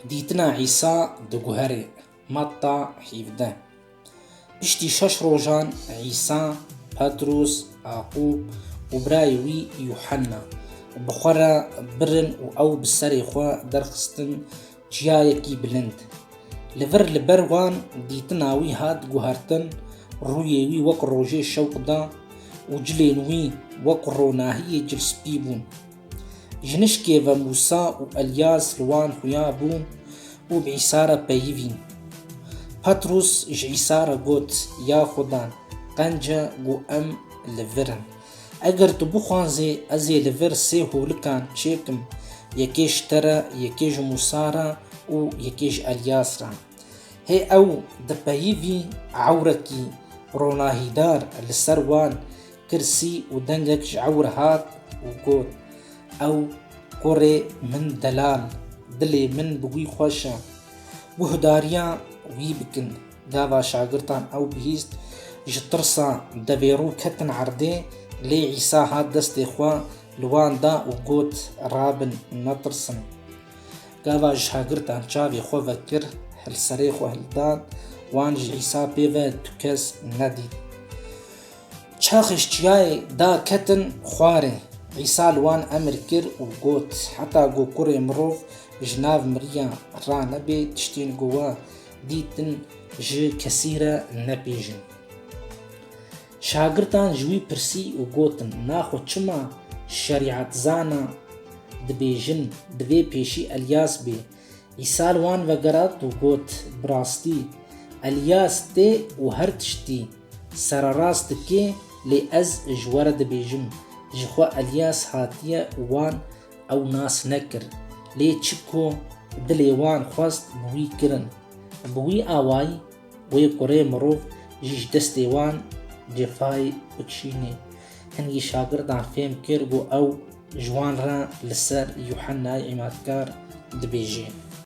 Dîtina Îsa di guherê, Metta hîvdeh. Piştî şeş rojan Îsa, Petrûs, Aqûb û birayê wî Yuhanna bi xwe re birin û ew bi serê xwe derxistin Çiyayekî bilind. Li vir li ber wan dîtina wî hat guhertin, rûyê wî wek rojê şewq da û cilên wî wek ronahiyê cilspî bûn. Jinişkê ve Mûsa û Elyas li wan xuya bûn û bi Îsa re peyivîn. Petrûs ji Îsa re got, Ya Xweda, qence ku em li vir in. Eger tu bixwazî ez ê li vir sê holikan çêkim, yekê ji te re, yekê ji Mûsa re û yekê ji Elyas re. Hê ew di peyivî ewrekî ronahîdar li ser wan kirsî û dengek ji ewr hat û got, Ew kurê min delal, dilê min bi wî xweş e. Guhdarîya wî bikin. Gava şagirtan ew bihîst, ji tirsa devêrû ketin erdê, lê Îsa hat destê xwe li wan da û got, Rabin, netirsin. Gava şagirtan çavê xwe vekir, li serê xwe hildan, wan ji Îsa pê ve tu kes nedît. Çaxêj çiyayê da ketin xwarê. Îsa li wan emir kir û got, Heta ku kurê mirov ji nav miriyan ranebê, tiştên ku we Dîtin ji kesî re nepêjin. Şagirdan ji wî pirsî û gotin, Na xwe çima şerîetzana dibêjin, divê pêşî Elyas bê. Îsa li wan vegerat û got, Bi rastî, Elyas tê û her tiştî sererast dike, lê ez ji we re dibêjim, ji xwe Elyas hatiye û wan Ew nas nekir, lê çi ku dilê wan xwest bi wî kirin. Bi wî awayî wê kurê mirov jî ji destê wan cefayê bikişînê. Hingî şagirdan fêm kir ku ew ji wan re li ser Yuhennayê Îmatkar dibêje.